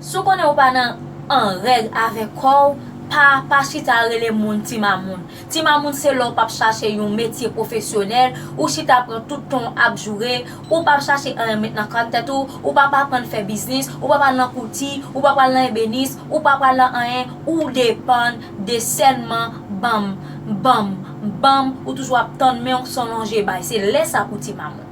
Si w konnen ou pa nan an règ avèk kò w, pa pa chita rele moun ti mamoun. Ti mamoun se lè w pap chache yon metye pwofesyonèl, ou chita pran tout tan w ap joure, ou pap chache anyen met nan kòt tèt ou, ou pap aprann fè biznis, ou pap al nan kouti, ou pap al nan ebenis, ou pap al nan anyen, ou depann de sèlman banm, banm, banm, ou toujou ap tann men w san lonje bay. Se lè sa pou ti mamoun.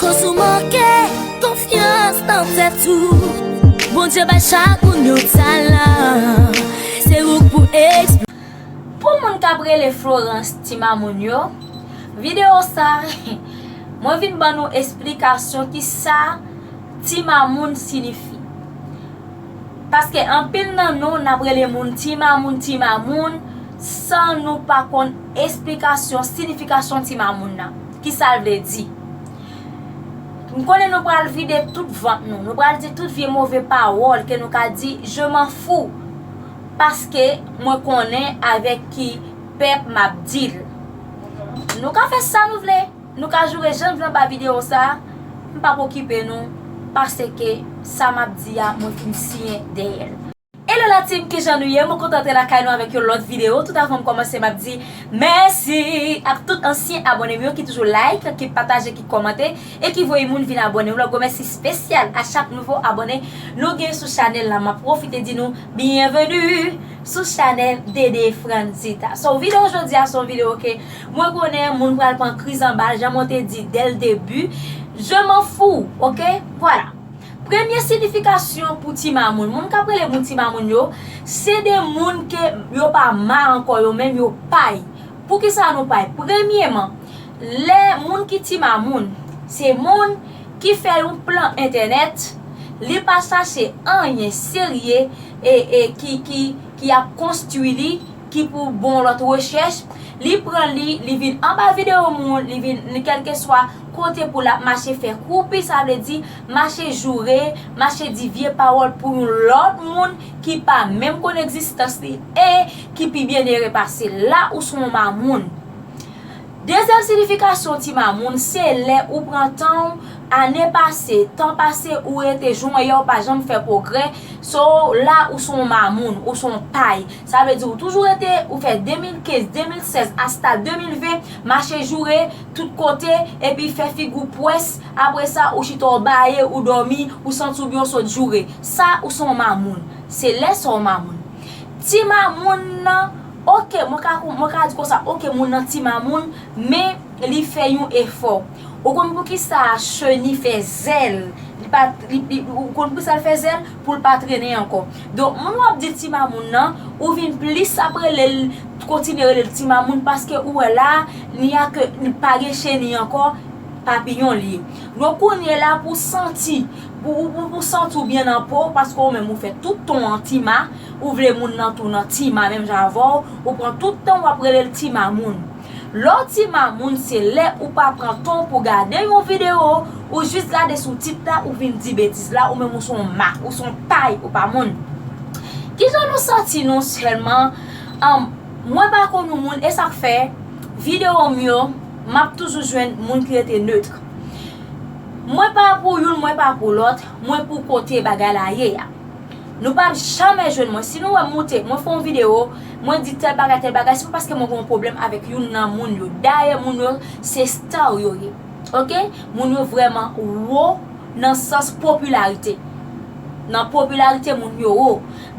Koz ou manke konfyans nan tèt ou Bondye bay chak moun yon talan Se ou k pou eksplike l Pou moun k ap rele Florence ti mamoun yo Videyo sa Mwen vin ban nou esplikasyon ki sa ti mamoun sinifi Paske anpil nan nou n ap rele moun ti mamoun ti mamoun san nou pa konn esplikasyon sinifikasyon ti mamoun nan. Ki sa l vle di? M konnen nou pral vide tout vant nou, nou pral di tout vye move pawòl ke nou ka di, je m'en fous, paske mwen konnen avèk ki pèp m ap di l. Nou ka fè sa nou vle, nou ka joure jan n vle anba videyo sa a, m p ap okipe nou, paseke sa m ap di a mwen fin siyen dèyè l. Hello la team kijan nou ye mwen kontan antre lakay nou avèk yon lòt video tout avanm kòmanse map di mèsi ak tout ansyen abònem yo ki toujou like ki pataje ki kòmante e ki voye moun vin abòne yon lòt gwo mèsi spesyal a chak nouvo abòne nou gen sou chanèl la map pwofite di nou byenveni sou chanèl DD Frantzita so video jodia son video ke mwen konnen moun pral pran kriz anbal jan mwen te di dèl debi je m'en fou ok vwala. Premye sinifikasyon pou ti mamoun. Moun k ap rele moun ti mamoun yo, se de moun ke yo pa ma ankò, yo menm yo pay. Poukisa nou pay? Premyeman, lè moun ki ti mamoun, se moun ki fè yon plan entènèt, li pa chache anyen serye e ki ap konstwi li ki pou bon lòt rechèch, li pran li, li vin anba video moun, li vin li kèlkeswa kote pou lap mache fè kroupi sa vle di mache joure, mache di vye pawòl pou yon lòt moun ki pa menm konn egzistans li e ki pi byennere pase l la ou son w mamoun. Dezyèm siyifikasyon ti mamoun se lè ou pran tan w, ane pase, tan pase ou rete jonyè w pa janm fè pwogrè, so la ou son w mamoun, ou son w pay. Sa vle di ou toujou rete, ou fè 2015, 2016 asta 2020 mache joure tout kote epi fè figi w pwès, apre sa ou chita w baye, ou dòmi, ou santi w byen ou sot joure. Sa ou son w mamoun. Se lè sa w mamoun. Ti mamoun nan, ok mwen ka kon, mwen ka di konsa ok moun nan ti mamoun men li fè yon efò. Ou konn poukisa cheni fè zèl, li pa, li, li, ou konn poukisa l fè zèl? pou l pa trennen ankò. Donk moun w ap di ti mamoun nan, ou vin plis ap rele l, kontinye rele l ti mamoun paske ou wè la a, ni a ke li pa gen cheni ankò, papiyon l ye. Donk kounye la pou w santi, pou ou santi w byen nan po w paske ou menm ou fè tout ton an ti ma, ou vle moun nan tou nan ti ma menm jan avè w, ou pran tout tan w ap rele l ti mamoun. Lè w ti mamoun se lè ou pa pran tan w pou gade yon video, ou jis gade sou tit la ou vin di betiz la ou menm ou son mak, ou son pay ou pa moun. Kijan nou santi nou sèlman Humm mwen pa konn yon moun esak fè video m yo map toujou jwenn moun ki rete neutre. Mwen pa pou youn mwen pa pou lòt, mwen pou kote bagay la ye a. Nou pap jamè jwenn mwen. Si nou wèm moute, mwen fè yon video, mwen di tèl bagay tèl bagay, se pa paske mwen gen yon pwoblèm avèk youn nan moun yo. Dayè moun yo se star yo ye. Ok. Moun yo vrèman wo nan sans popilarite. Nan popilarite moun yo wo.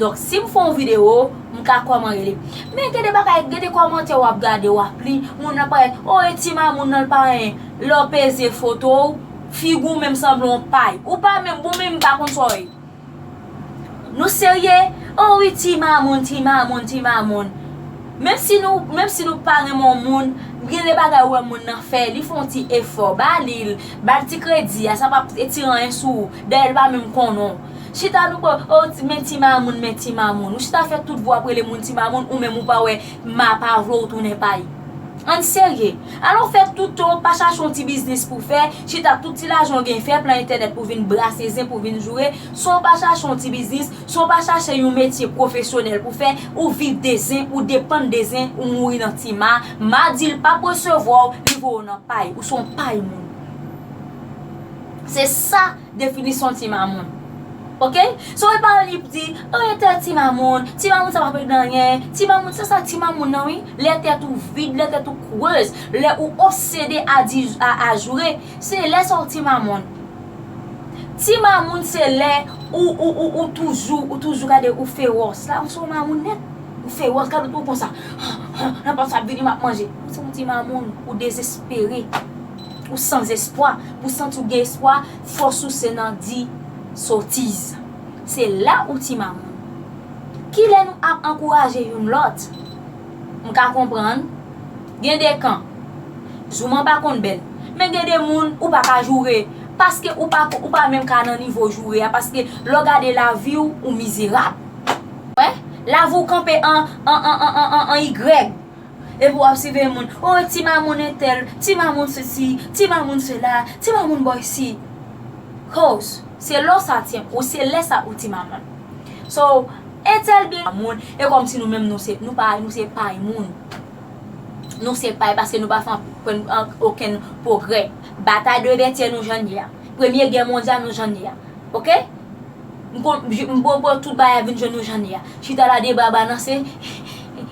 Donk si m fè yon video, m ka kòman rele. Men gen de bagay, gen de kòmantè wap gade, wap li, moun nan ap pale, oh e ti mamoun nan l pa anyen. Lè w peze foto w, figi w menm sanble yon pay. Ou pa menm, bon menm m pa konn sa w ye. Nou serye? Oh wi ti mamoun ti mamoun ti mamoun Menm si nou menm si nou pa renmen yon moun gen de bagay ou wè moun nan fè li fè yon ti efò ba li l ba l ti kredi a sa pa p etire anyen sou ou dayè l pa menm konnen w chita nou p oh men ti mamoun men ti mamoun ou chita fè tout vwa pou rele moun ti mamoun ou menm ou pa wè Mma pa vle w tounen pay. Ann serye. Alon fè tout tan w pa chache yon ti biznis pou w fè, chita ak tout ti lajan w gen fè plan entènèt pou w vin brase zen pou w vin joure, san w pa chache yon ti biznis, san w pa chache yon metye pwofesyonèl pou w fè, ou viv de zen, ou depann de zen, ou mouri nan ti ma, ma di l pap resevwa w, li voye w nan pay, ou se yon pay moun. Se sa. Definisyon ti mamoun ok so e pa li p di oh e tè ti mamoun ti mamoun sa pa vle di anyen ti mamoun se sa ti mamoun nan wi lè tèt ou vid lè tèt ou creuse lè ou obsede a di a ajoure se lè sa ou ti mamoun ti mamoun se lè ou ou ou ou toujou ou toujou gade ou fewòs la ou se yon mamoun nèt ou fewòs gade ou konsa han han nan pòt sa ap vini map manje ou se yon ti mamoun ou dezespere. Ou san zespwa, ou santi w gen espwa, fòs ou se nan di sotiz. Se la ou ti mamoun. Kilè nou ap ankouraje youn lòt? M ka konprann, gen de kan. Jouman pa konn bèl. Men gen de moun ou pa ka joure, paske ou pa ko, ou pa menm ka nan nivo joure a, paske lè w gade lavi w, ou mizerab. Wè? Lavi w kanpe an, an, an, an, an, an, an, an igrèg. Epi wap siveye moun, oh ti mamoun entèl, ti mamoun sesi, ti mamoun sela, ti mamoun bò isi. Cos, se lè w sa ti m, ou se lè sa ou ti mamoun. So, entèl byen mamoun, e kòm si nou menm nou se, nou pa, nou se pay moun. Nou se pay paske nou pa fè anprenn an okenn pwogrè. Batay de vètyè nou jan n ye a. Premye gè mondyal nou jan n ye a. Ok? M konn, m bòbò tout bagay vin jwenn nou jan li a. Chita la deba balanse,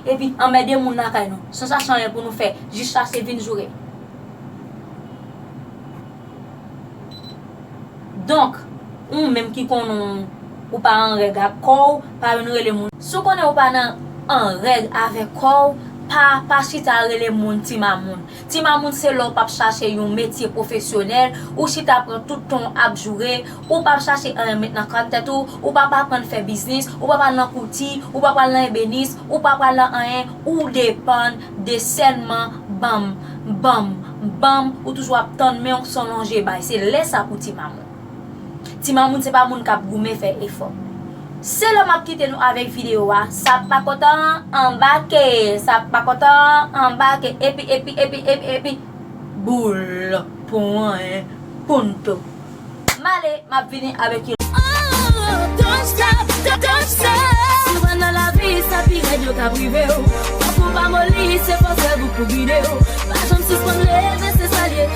epi anmède moun lakay nou. San sa san anyen pou nou fè, jis ase vin joure. Donk, ou menm ki konnen w ou pa an règ ak kò w, pa vin rele moun. Si w konnen ou pa nan an règ avèk kò w, pa pa chita rele moun ti mamoun. Ti mamoun se lè w pap chache yon metye pwofesyonèl, ou chita pran tout tan w ap joure, ou pap chache anyen met nan kàn tèt ou, ou pap aprann fè biznis, ou pap al nan kouti, ou pap al nan ebenis, ou pap al nan anyen, ou depann de sèlman banm, banm, banm, ou toujou ap tann men w san lonje bay. Se lè sa pou ti mamoun. Ti mamoun se pa moun kap goumen fè efò. Se lè map kite nou avèk video a sak pa kontan an anbake sak pa kontan an anbake epi epi epi epi epi boul pwen punto male map vini avèk yon lòt.